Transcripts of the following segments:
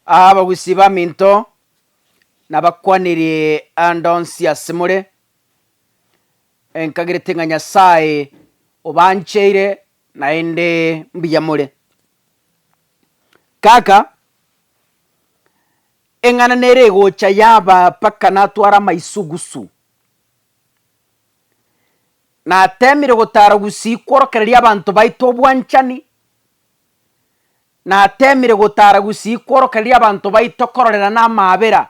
Aa abagusi b'aminto nabakwanirie ande onsi asemore, enkagirete ng'a Nyasae obancheire naende mbuya more. Kaka, eng'ana nere egocha yaba mpaka natware amaisugusu. Nateemire gotara gusii kworokereria abanto baito obwanchani, Nateemire gotaara gusii kworoka riria abanto baito kororerana amaabera,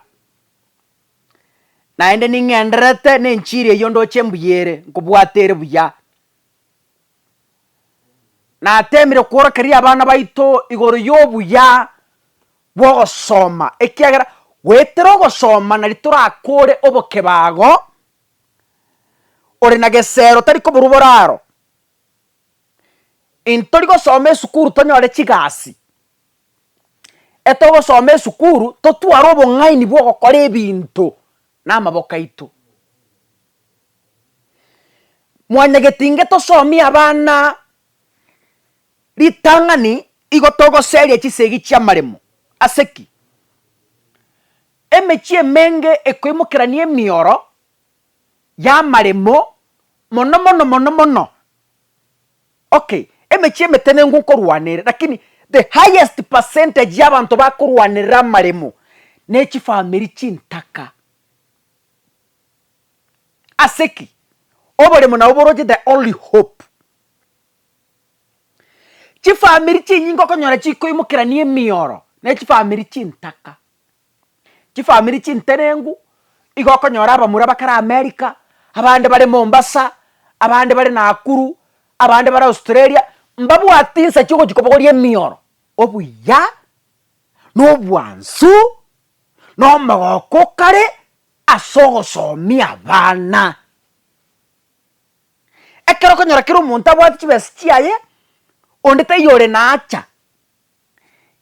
naende ning'endererete nenchiri eyio ndoche embuya ere, nkobwate ere buya. Nateemire kworokeria abana baito igoro y'obuya bw'ogosoma, ekiagera goetera ogosoma nari torakore obokebago, ore na gesero tari koborwa boraro. Intori gosoma esukuru tonyore chigasi, etogosoma esukuru totware obong'aini bwa ogokora ebinto na amaboko aito. Mwanyagete inge tosomie abana ritang'ani igo togoseria chisegi chia amaremo, ase ki? Emechie emenge ekoimokerania emioro. y'amaremo mono mono mono mono okay emechie emetenenku nkorwanere lakini the highest percentage y'abanto bakorwanerera amaremo nechifamiri chintaka ase ki? Oboremo nabo boroche the only hope chifamiri chinyinge okonyora chikoimokerania emioro nechifamiri chintaka. chifamiri chintenengu, igo okonyora abamura bakare America, abande bare Mombasa, abande bare Nakuru, abande bare Australia, mbabwati insa chiogochia kobogoria emioro, obuya, na obwansu, na omogoko o kare ase ogosomia abana. Ekero okonyora kera omonto abwate chibesa chiaye, onde taiyo ore na acha.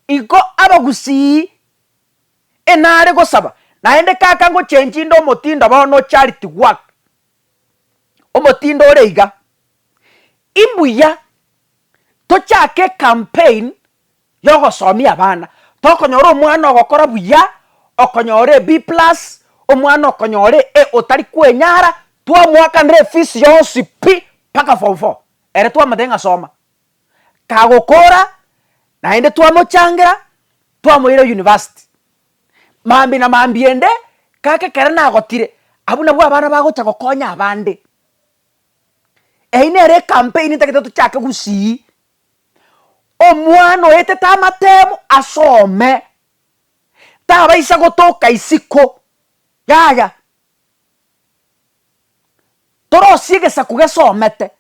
Iko abagusii enare gosaba, naende kaka ngochengi inde omotindo bono charity work, omotindo ore iga, imbuya tochake ecampaign yogosomia abana, tokonyora omwana ogokora buya, okonyora e B plus, omwana okonyora e A otari kwenyara, twamoakanera efees yonsi pi mpaka form four, ere twamotebia ng'a soma. kagokoora naende twamochangera twamoira university. Mambia na mambia ende kaka ekero nagotire abwo nabwo abana bagocha gokonya abande. Eyio nere ecampaign ntagete tochake gusii omwana oetete amatemo asome tabaisa gotoka isiko yaya torosie egesaku gesomete.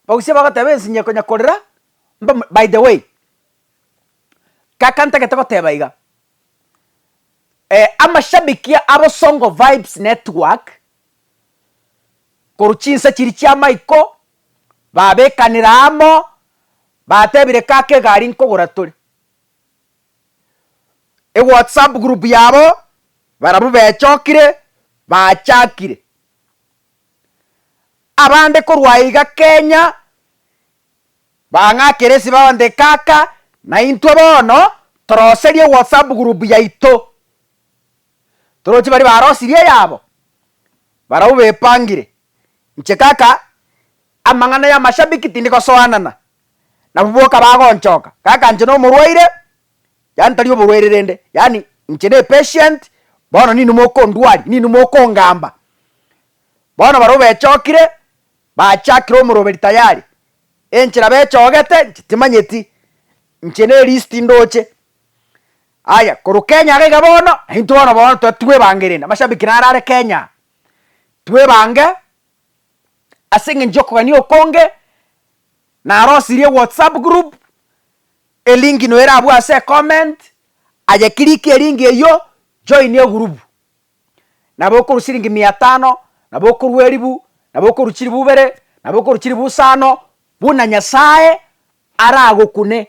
Bagusia bagoteba ensinye konya korera mbamu by the way, kaka ntagete goteba iga, amashabiki abo songo vibes network, korwa chinsa chiria chia maiko, babekanera amo, batebire kaka egari nkogora tore, ewhatsapp group yabo, barabwo bechokire, bachakire. Abande korwa iga Kenya bang'akere ase bagote kaka naintwe bono toroserie whatsapp group yaito toroche baria barosirie eyabo barabwo bepangire inche kaka amang'ana ya mashabiki tindi gosoanana nabwo boka bagonchoka kaka inche nomorwaire. yaani tari oborwaire rende yaani inche ne patient bono nini mokondwaria nini mokongamba bono baria obechokire bachakire omoroberi tayari enchera bechogete inche timanyeti inche ne list ndoche aya korwa kenya iga iga bono naintwe bono bono totwebangire rende amashabiki naro are kenya twebange. ase eng'encho y'okogania okonge, narosirie ewhatsapp group, elinki noyo erabwo ase ecomment, aye click elinki eywo, join egurubu. Nabo okorwa chilingi mia tano, nabo okorwa elifu, nabo okorwa chilifu ibere, nabo okorwa chilifu isano, buna Nyasaye aragokune.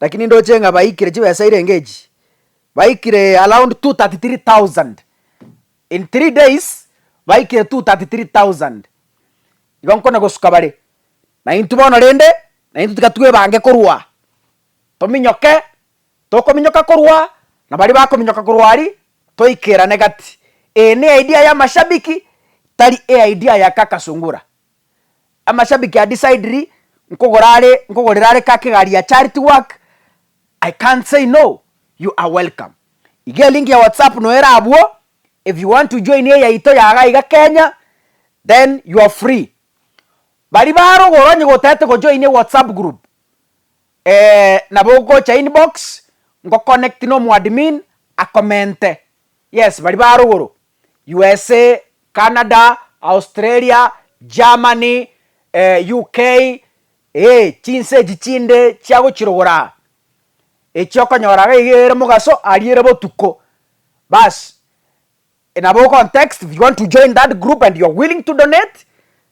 Lakini ndoche ng'a baikire chibesa irenge echi, baikire around 233,000. In three days, baikire 233,000. Igo nkona gosuka bare, na intwe bono rende, na intwe tiga twebange korwa, tominyoke, tokominyoka korwa, na baria bakominyoka korwa aria, toikerane gati. Eye ne idea y'amashabiki, tari e idea ya Kaka Sungura. amashabiki are decideri nkogora are nkogorera are kake egari ya charity work I can't say no you are welcome iga elink ya WhatsApp no ere abwo if you want to join eyaito ya iga iga Kenya then you are free baria barogora onye gotagete go join WhatsApp group eh nabo ogocha inbox ngo connect no omo admin a comente yes baria barogoro. USA, Canada, Australia, Germany, UK, ee, chinse echi chinde chia gochirogora, echi okonyora iga iga ere mogaso aria ere botuko, baas, nabo ogotext if you want to join that group and you're willing to donate,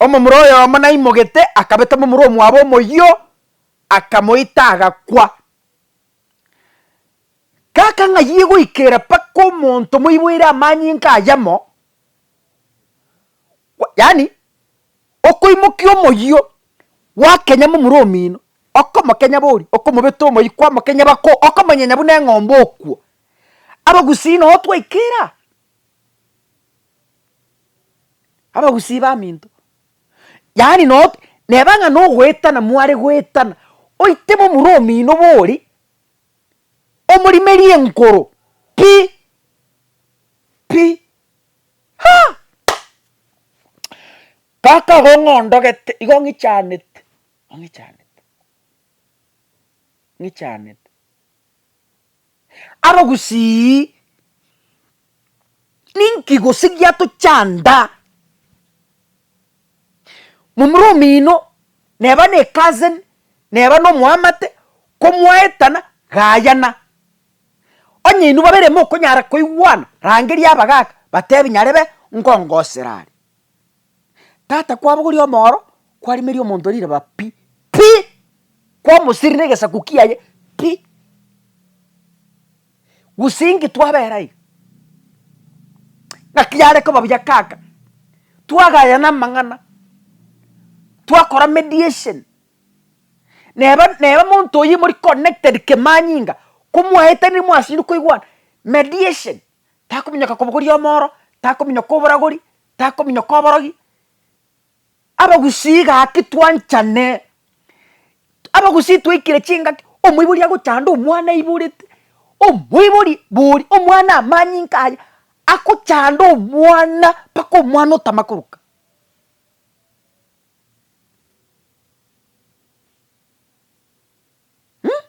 Omomura oyomo naimogete, akabeta momura omwabo omoyio, akamoita, agakwa. Gaka ng'ayie goikera mpaka omonto moiboire amanyinga ayamo, yaani okoimokia omoyio, gwakenya momura omino, okomokenya bori, okomobeta omoyio, kwamokenya bako, okomonyenya buna eng'ombe okwo. Abagusii noo twaikera. abagusii baminto, yaani noo neba ng'a nogoetana mware goetana, oite momura omino bori, omorimerie enkoro pi pi haa kaka igo ng'a ondogete igo ng'ichanete, ng'ichanete, ng'ichanete. aro gusii, ninki gose giatochanda? Momura omino neba ne cousin, neba no moamate, komwaetana gayana, onye inwe babere mokonyara koigwana, rangeria abagaka batebi nyarebe ngongosera are. Tata kwabogoria omooro kwarimeria omonto riraba pi pi kwamosirire egesaku kiaye pi gose inki twabera iga ngaki yare koba buya kaka twagayana amang'ana twakora mediation neba neba omonto oyi mori connected kemanyinga komwaetanire mwasiria koigwana mediation takominyoka kobogoria omoro, takominyoka oboragori, takominyoka oborogi, abagusii gaki twanchane, abagusii twaikire chingaki, omoibori agochande omwana aiborete, omoibori bori omwana amanyinka aye, agochande omwana mpaka omwana otama koroka. Mmmh.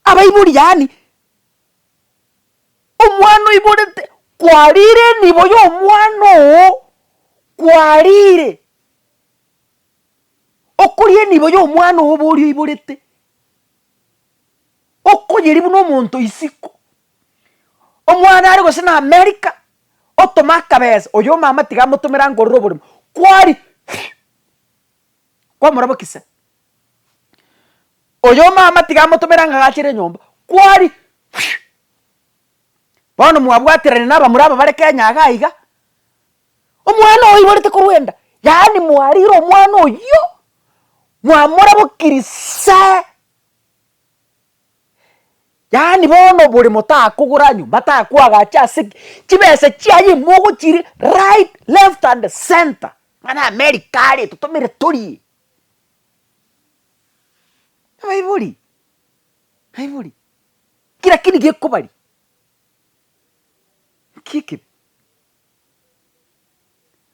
Abaibori, yaani, omwana oiborete, kwarire enibo y'omwana oo, kwarire okoria enibo y'omwana oo oba oria oiborete, okoyeria buna omonto isiko, omwana are gose na america, otome akabesa, oyo omama tiga amotomere angorere oborimo, kwari kwamorabokisa, Oyo omama tiga amotomere ang'e agachere enyomba, kwari whee! Bono mwabwaterane na abamura aba bare Kenya iga iga, omwana oiborete korwa enda, yaani mwarire omwana oyio, mwamorabokirie saaa, yaani bono bore motakogora nyomba, atakwagacha ase ki, chibesa chiaye mogochire right, left and centre, ng'a na America are totomere torie, Abaibori, abaibori, kera keri gekobari, nki ekebi?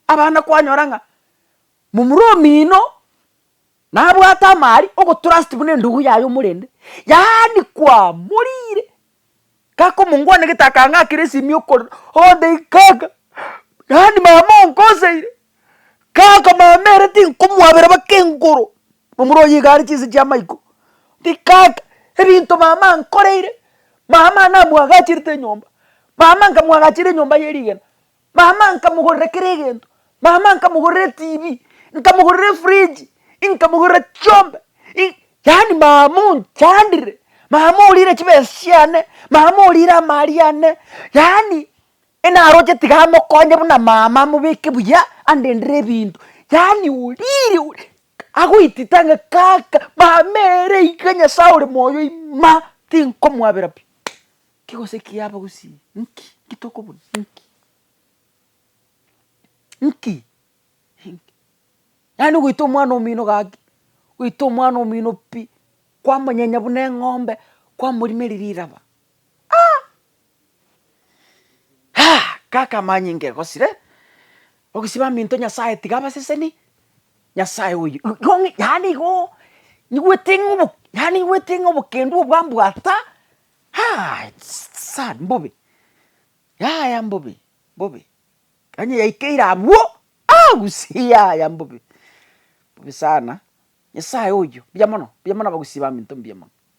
Abana kwanyora ng'a momura omino nabwate amaari ogotrust buna endugu yaye omorende, yaani kwamoriire. Gakomongwana gete akang'akera esimi okore onde kaka yaani mama onkoseire kaka mama ere tinkomwabera baka engoro omoro oye iga are chinse chia maiko ri kaka ebinto mama ankoreire mama namwagachirete enyomba mama nkamwagachira enyomba ye rigena Mama nkamogorera kera egento, mama nkamogorera etv, nkamogorera efridge, nkamogorera chiombe, i- yaani mama onchandire, mama orire chibesa chiane, mama orire amari ane, yaani enaroche tiga amokonye buna mama amobeke buya, andendere ebinto, yaani orire o- agoitita ng'a kaka mama ere iga nyasae ore moyo ima, tinkomwabera pi. Kegose kiabo gose nki? Nki tokobuna? Nki? Nki? Nki? Yaani ogoita omwana omino gaki, goita omwana omino pi, kwamonyenya buna eng'ombe, kwamorimeria riraba ah! Haa! Kaka amanyinga egosire, ogosiba aminto Nyasaye tiga abaseseni, Nyasaye oyo yaani igooo, nigwete ng'a obo yaani nigwete ng'a obokendu obwo ambwata. Haa it's sad mbobe yaya mbobe mbobe onye yaikeire abwo aa gusii yaya mbobe mbobe sana nyasaye oyo mbuya mono mbuya mono abagusii baminto mbuya mono.